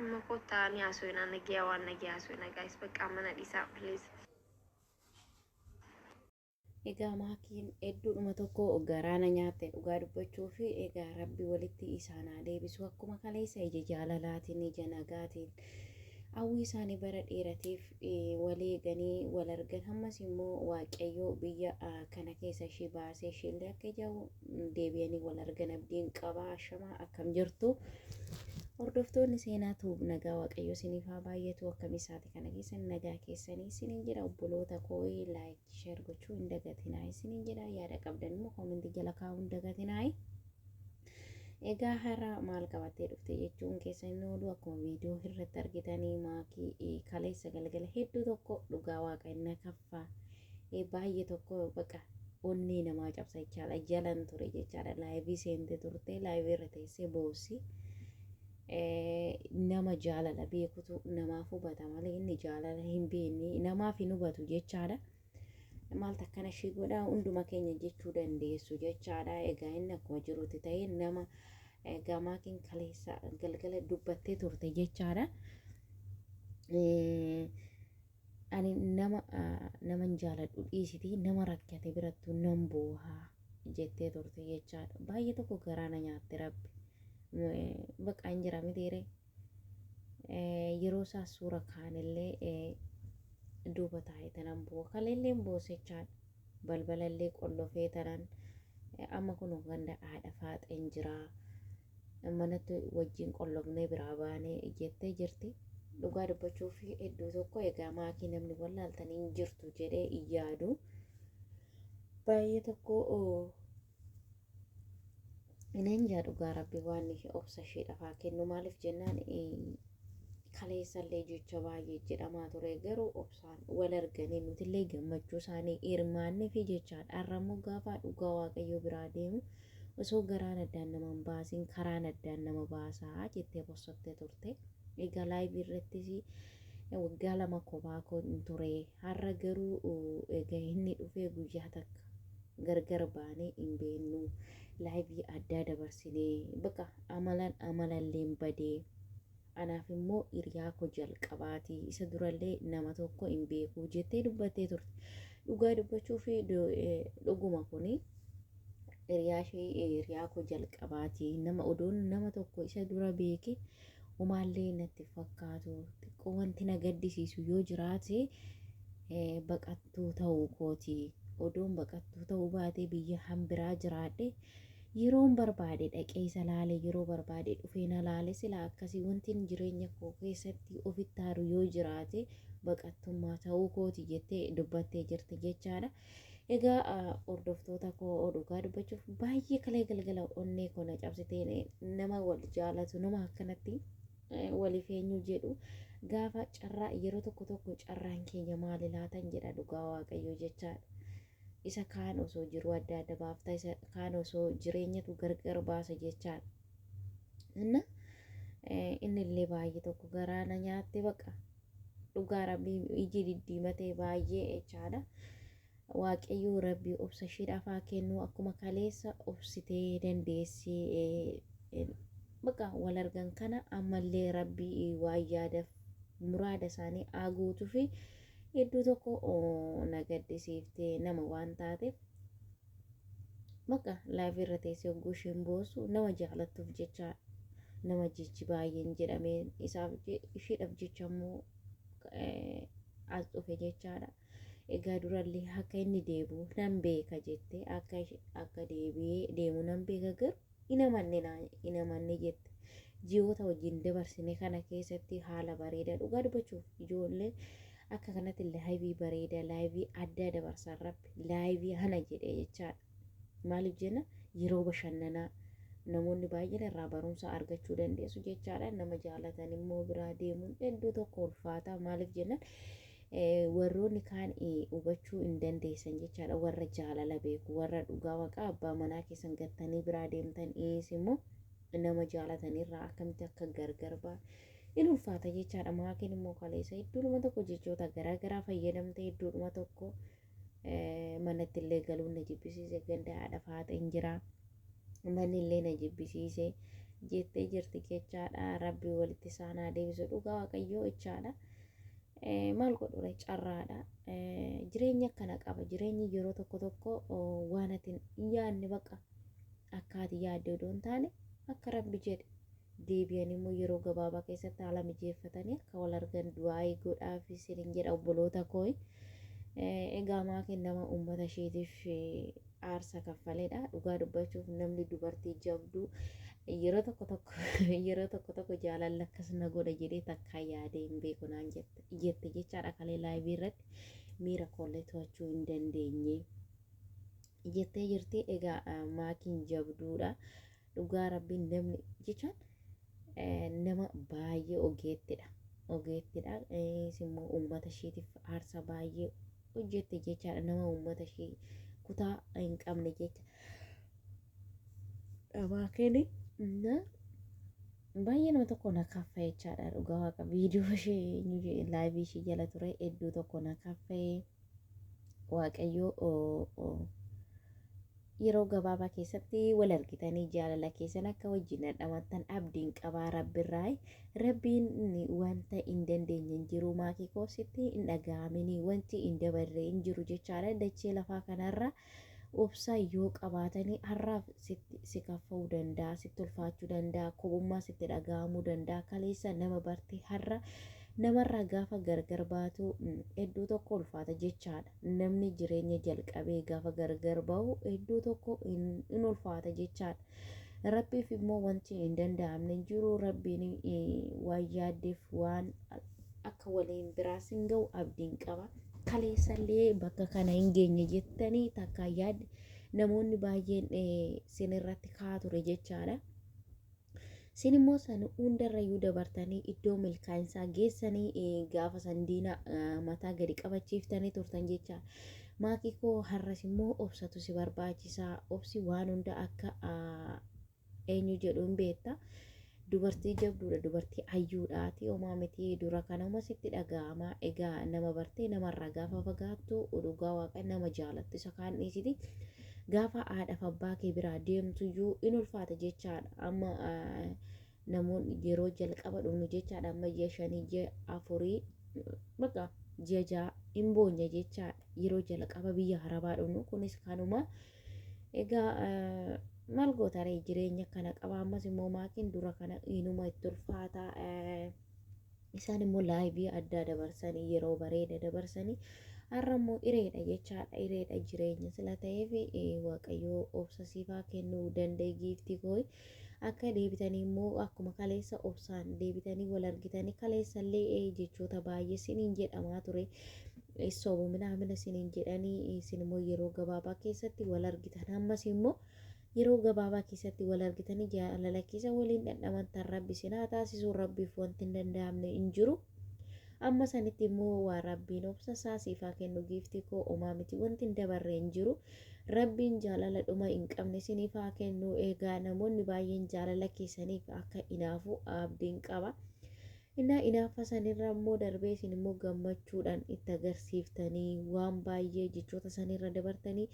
Amma kottaa ni haasofnaa nagiyaa waan nagiyaa haasofnaa gaayis baqqaa mana dhiisaa please. Egaa maakiin hedduudhuma tokko garaana nyaatte dhugaa dubbachuu fi egaa rabbi walitti isaan haa deebisu akkuma kaleessa ija jaalalaatiin ija nagaatiin hawwii isaanii bara dheeratiif wal eeganii wal argan hammas immoo waaqayyoo biyya kana keessa ishii baasee ishiillee akka ijaawu deebi'anii wal argan abdiin qaba ashamaa akkam jirtu hordoftoonni seenaa tuub nagaa waaqayyoo isiniif haa baay'atu akkam isaati kana keessan nagaa keessanii isiniin jira obboloota koo'ee laayik Sheer gochuu hin dagatinaa isiniin jedha yaada qabdan immoo koomentii jala kaa'uu hin dagatinaa. Egaa har'a maal qabattee dhufte jechuun keessa inni oolu akkuma viidiyoo irratti argitanii maakii kaleessa galgala hedduu tokko dhugaa waaqa inni kaffaa baay'ee tokko baqa onnee namaa cabsa jechaadha jalan ture jechaadha laayivii seentee turte laayivii irra teessee boossi. nama jaalala beekutu namaaf hubata malee inni jaalala hin beekne namaaf hin hubatu jechaadha. Maaltu akkana ishii godha hunduma keenya jechuu dandeessu jechaadha. Egaa inni akkuma jirutti ta'ee nama eh, gamaakiin kaleessa galgala dubbattee turte jechaadha. Eh, Ani nama naman jaaladhu dhiisitii nama rakkate birattuu nan booha jettee turte jechaadha. Baay'ee tokko garaa na nyaatte rabbi. Baqa hin jira mitiire. Yeroo isaa suura kaanillee duuba taa'ee tanan booha. Kaleellee hin boosechaadha. Balbalallee qollofee tanan amma kun ganda haadha faaxeen jiraa. manatti wajjin qollobnee biraa baane jettee jirti. Dhugaa dubbachuuf iddoo tokko egaa maakii namni wallaaltan hin jirtu jedhee hin yaadu. Baay'ee tokko Ineen jaa dhugaa rabbi waan obsa ishee dhafaa kennu maaliif jennaan kaleessallee jecha baay'ee jedhamaa ture garuu obsaan wal arganii nutillee gammachuu isaanii hirmaannee fi jechaadha har'ammoo gaafa dhugaa waaqayyoo biraa deemu Osoo garaan addaan nama hin baasiin karaan addaan nama baasa jettee bossottee turte. Egaa laayivii irrattis waggaa lama kophaa koo hin ture. Har'a garuu egaa inni dhufee guyyaa takka gargar baanee hin beeknu. Laayivii addaa dabarsinee baqa amalan amalalleen badee Anaaf immoo hiriyaa koo jalqabaati. Isa durallee nama tokko hin beeku jettee dubbattee turte. Dhugaa dubbachuu fi dhuguma kuni hiriyaa ishee hiriyaa koo jalqabaati. Nama odoon nama tokko isa dura beeke umaallee natti fakkaatu xiqqoo wanti na gaddisiisu yoo jiraate baqattuu ta'uu kooti. Odoon baqattuu ta'uu baatee biyya hanbiraa jiraadhe Yeroon barbaade dhaqee isa laale yeroo barbaade dhufee na laale silaa akkasii wantin jireenya koo keessatti ofitti aaru yoo jiraate baqattummaa ta'uu kooti jettee dubbattee jirti jechaadha. Egaa hordoftoota koo dhugaa dubbachuuf baay'ee kalee galgala onnee koo na cabsitee nama wal jaalatu nama akkanatti waliif eenyu jedhu gaafa carraa yeroo tokko tokko carraan keenya maali laatan jedha dhugaa waaqayyoo jechaadha. Isa kaan osoo jiruu adda adda baafta, isa kaan osoo jireenyatu gargar baasa jechaan. Inna inni illee baay'ee tokko garaa na nyaatte baqa. Dhugaa rabbii iji diddiimatee baay'ee jechaadha. Waaqayyoo rabbii obsa ishiidhaaf haa kennu akkuma kaleessa obsitee dandeessi baqa wal argan kana ammallee rabbii waan yaadaf muraada isaanii haa guutufi. Iddoo tokko na gaddisiifte nama waan taateef bakka laayivii irra teessee hogguu isheen boosu nama jaalattuuf jecha nama jechi baay'een jedhamee isaaf isheedhaaf jecha immoo as dhufe jechaadha. Egaa durallee akka inni deebi'u nan beeka jette akka akka deebi'ee deemu nan beeka garuu hin amanne naa hin amanne jette ji'oota wajjin dabarsine kana keessatti haala bareedaa dhugaa dubbachuuf ijoollee akka kanatti laayivii bareedaa laayivii addaa dabarsan rabbi laayivii hana jedhee jechaadha maaliif jenna yeroo bashannanaa namoonni baay'een irraa barumsa argachuu dandeessu jechaadha nama jaalatan immoo biraa deemuun hedduu tokko ulfaataa maaliif jennaan warroonni kaan hubachuu hin dandeessan jechaadha warra jaalala beeku warra dhugaa waqaa abbaa manaa keessan gattanii biraa deemtan is immoo nama jaalatan irraa akkamitti akka gargar baa in ulfaata jechaadha maakiin immoo kaleessa iddoodhuma tokko jechoota garaa garaa fayyadamtee iddoodhuma tokko manatti illee galuun na jibbisiise ganda haadha faaxeen jira manni illee na jibbisiise jettee jirti jechaadha rabbi walitti isaan haa deebisu dhugaa waaqayyoo jechaadha maal godhure carraadha jireenya akkana qaba jireenyi yeroo tokko tokko waan ati hin yaadne baqa akka ati yaadde odoo hin taane akka rabbi jedhe deebi'anii immoo yeroo gabaabaa keessatti haala mijeeffatanii akka wal argan du'aa'ii godhaaf isinin jedha obboloota kooyi. Egaa maakiin nama uummata isheetiif aarsa kaffaledha. Dhugaa dubbachuuf namni dubartii jabduu yeroo tokko tokko yeroo tokko tokko jaalalli akkas na godha jedhee takkaa yaadee hin beeku naan jette jette jechaadha kalee laayivii irratti miira koollee to'achuu hin dandeenye jettee jirti. Egaa maakiin jabduudha. dhugaa rabbiin namni jechaan nama baay'ee ogeettidha ogeettidha innis immoo uummata isheetiif aarsaa baay'ee hojjette jechaadha nama uummata ishee kutaa hin qabne jecha dhabaa keeni na baay'ee nama tokko na kaffa jechaadha dhugaa waaqa viidiyoo ishee eenyu jedhe laayivii ishee jala ture hedduu tokko na kaffee waaqayyoo Yeroo gabaabaa keessatti wal argitanii jaalala keessan akka wajjin dhandhamattan abdiin qabaa rabbirraayi. Rabbiin wanta hin dandeenye hin jiru maakii koo sitti hin dhaga'amini wanti hin dabarre hin jiru jechaadha dachee lafaa kanarra obsa yoo qabaatanii har'aaf sitti si kaffa'uu danda'a sitti ulfaachuu danda'a kophummaa sitti dhaga'amuu danda'a kaleessa nama bartee har'a namarraa gaafa gargar baatu hedduu tokko ulfaata jechaadha. Namni jireenya jalqabee gaafa gargar ba'u iddoo tokko hin hin ulfaata jechaadha. Rabbiif immoo wanti hin danda'amne hin jiru. Rabbiin eh, waan yaaddeef waan akka waliin biraas hin ga'u abdiin qaba. Kaleessallee bakka kana hin geenye jettanii takka yaad namoonni baay'een eh, sinirratti kaa ture jechaadha. Isin immoo san hundarrayyuu dabartanii iddoo milkaa'insaa geessanii eh, gaafa san diina eh, mataa gadi qabachiiftanii turtan jecha. Maakii koo har'as immoo obsatu si barbaachisa. Obsi waan hunda akka ah, eenyu jedhu hin beekta. Dubartii jabduudha, dubartii hayyuudhaati. Homaa miti dura kana homa sitti dhaga'ama. Egaa nama bartee namarraa gaafa fagaattu dhugaa waaqa nama jaalattu isa kaan dhiisiti. Gaafa haadhaf abbaa kee biraa deemtuyyuu in ulfaata jechaadha amma namoonni yeroo jalqaba dhumnu jechaadha amma ji'a shanii ji'a afurii baqa ji'a ja'a in boonya jechaadha yeroo jalqaba biyya harabaa dhumnu kunis kanuma egaa maal gootaree jireenya kana qaba ammas immoo maakiin dura kana inuma itti ulfaata isaan immoo laayivii addaa dabarsanii yeroo bareeda dabarsanii har'a immoo ireedha jechaadha ireedha jireenya sila ta'eef waaqayyoo obsa siifaa kennuu danda'e giiftii koo akka deebitanii immoo akkuma kaleessa obsaan deebitanii wal argitanii kaleessallee jechoota baay'ee siniin jedhamaa ture sobu minaamina siniin jedhanii isin immoo yeroo gabaabaa keessatti wal argitan ammas immoo yeroo gabaabaa keessatti wal argitanii jaalala keessa waliin dhandhamattan rabbi isin haa taasisu rabbiif wanti hin danda'amne hin jiru amma sanitti immoo waa rabbiin obsa isaa siif haa kennu giiftii koo omaa miti wanti hin dabarre hin jiru rabbiin jaalala dhuma hin qabne isiniif haa kennu egaa namoonni baay'een jaalala keessaniif akka inaafu abdiin qaba innaa inaafa sanirra immoo darbee isin immoo gammachuudhaan itti agarsiiftanii waan baay'ee jechoota sanirra dabartanii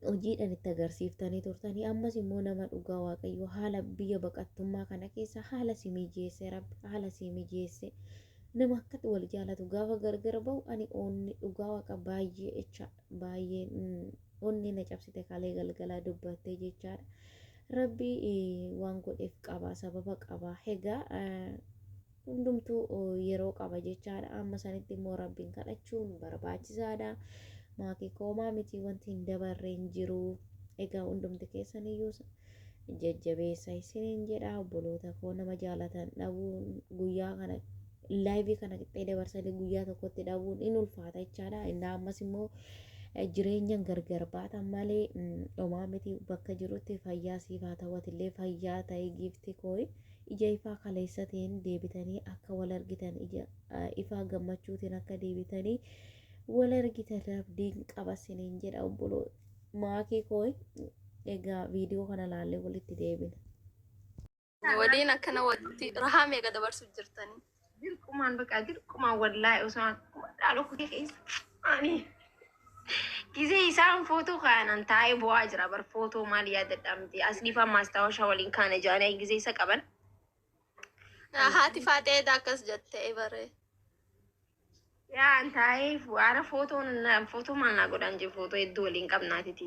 hojiidhaan itti agarsiiftanii turtanii ammas immoo nama dhugaa waaqayyoo haala biyya baqattummaa kana keessa haala si mijeesse rabbi haala si mijeesse nama akkatti wal jaalatu gaafa gargar ba'u ani onni dhugaa waaqa baay'ee jecha baay'ee onni na cabsite kalee galgalaa dubbattee jechaadha rabbi waan godheef qaba sababa qaba hegaa Hundumtuu yeroo qaba jechaadha. Amma sanitti immoo Rabbiin kadhachuun barbaachisaadha. Maatii koomaa miti wanti hin dabarre hin jiru. Egaa hundumti keessan iyyuu jajjabeessa isiniin jedha. Obboloota koo nama jaalatan dhabuun guyyaa kana laayivii kana qixxee dabarsanii guyyaa tokkotti dhabuun in ulfaata jechaadha. Innaa ammas immoo jireenyan gargar baatan malee homaa miti bakka jirutti fayyaa siif haa ta'u atillee fayyaa ta'e giifti kooyi. Ija ifaa kaleessatiin deebitanii akka wal argitan, ija ifaa gammachuutiin akka deebitanii wal argitan rabdiin qaba siniin jedha obboloo maakii koo egaa viidiyoo kana laallee walitti deebina. Waliin akkana walitti rahaa meeqa dabarsuuf jirtanii? Dirqumaan baqaa dirqumaan wallaahi osoo akkuma dhaaloo kutee keessa ani gisee isaan footoo kaanan taa'ee bu'aa jira bar footoo maal yaadadhaa miti as dhiifaa maastaawashaa waliin kaana jaanii gisee isa qaban Haati faaxee edaa akkas jette baree. yaa an taa'ee waara footoo footoo maal naa godhaan jee footoo hedduu waliin qabnaatiti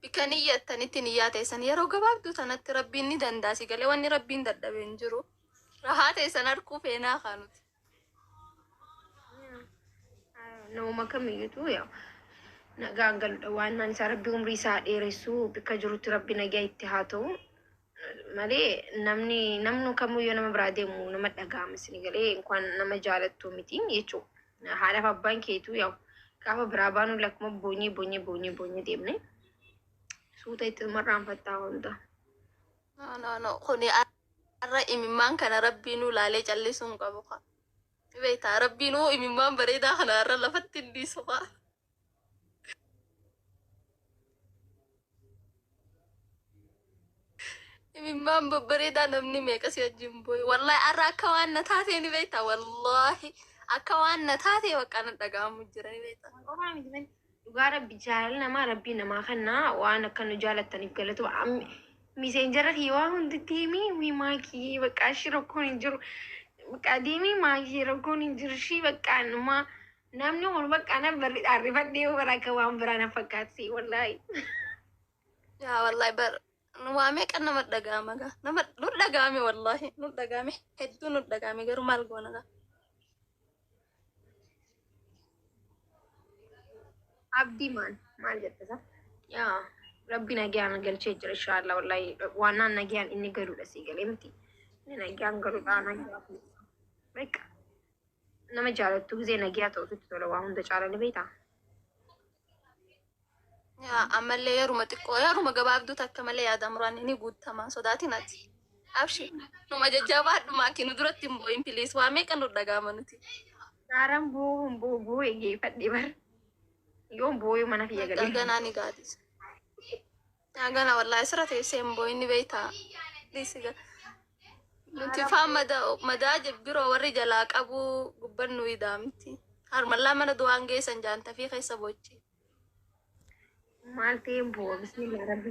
Bikka niyyattanitti niyyaa teessan yeroo gabaabduu tanatti rabbiin ni dandaasi galee wanni rabbiin dadhabe hin jiru. Rahaa teessan harkuu feenaa kaanuti. Nama kamiyyuutu yaa nagaan galudha waan naan isaa rabbi umrii isaa dheeressu bikka jirutti rabbi nagaa itti haa ta'u malee namni namnu kamuu yoo nama biraa deemu nama dhaga'ama isin galee inkwaan nama jaalattu miti jechuudha. Haadhaaf abbaan keetuu yaa'u gaafa biraa baanuu lakkuma boonyee boonyee boonyee boonyee deemne suuta itti marraanfattaa hunda. No, no, no. Kuni har'a imimmaan kana rabbiinuu laalee callisuu hin qabu kaa. Beektaa rabbiinuu imimmaan bareedaa kana har'a lafatti hin dhiisu kaa. Imimmaan babbareedaa namni meeqa si wajjin booye. Wallaahi har'a akka waan na taatee ni beekta. Wallaahi akka waan na taatee bakka na dhaga'amu jira ni beekta. Qomaa miti malee dhugaa rabbi jaalala namaa rabbii namaa kannaa waan akka nu jaalattaniif galatu miseenjara kiyya waa hundi deemii wii maakii baqqaa ishii rakkoon hin jiru baqqaa deemii maakii rakkoon hin jiru ishii baqqaa numaa Namni kun bakka anan barridhaan rifadhee bara akka waan biraa na fakkaatsi wallaahi. Yaa wallahi bar nu waa meeqa nama dhaga'ama gaa nama nu dhaga'ame wallahi nu dhaga'ame hedduu nu dhaga'ame garuu maal goona gaa. Abdii maal maal jette sa? Yaa rabbi nagaan galchee jira inshaallah wallaahi waannaan nagaan inni galuudha sii galee miti. Inni nagaan galuudha nagaan. Beeka. nama jaalattu gisee nagiyaa ta'ututti tola waa hunda caala ni beektaa. Yaa, ammallee yeruma xiqqoo yeruma gabaabduu takka malee yaada muraan ni guuttamaa sodaatiin ati abshi numa jajjabaa dhumaa kinu duratti hin boo'in piliis waa meeqa nu dhagaama nuti Gaaraan bu'uu hin bu'u bu'uu eeggeeffadhe bar. Yoon bu'uu mana kiyya galee. ganaa ni gaadisa Agana wallahi asirra teessee hin boo'inni beektaa. Please ga- Nuti faan madaa madaa je- biroo warri jalaa qabu gubban nu idaa miti. Harmallaa mana du'aan geessan jaantafii keessa bochi. Maal ta'ee hin bu'u bismillah rabbi.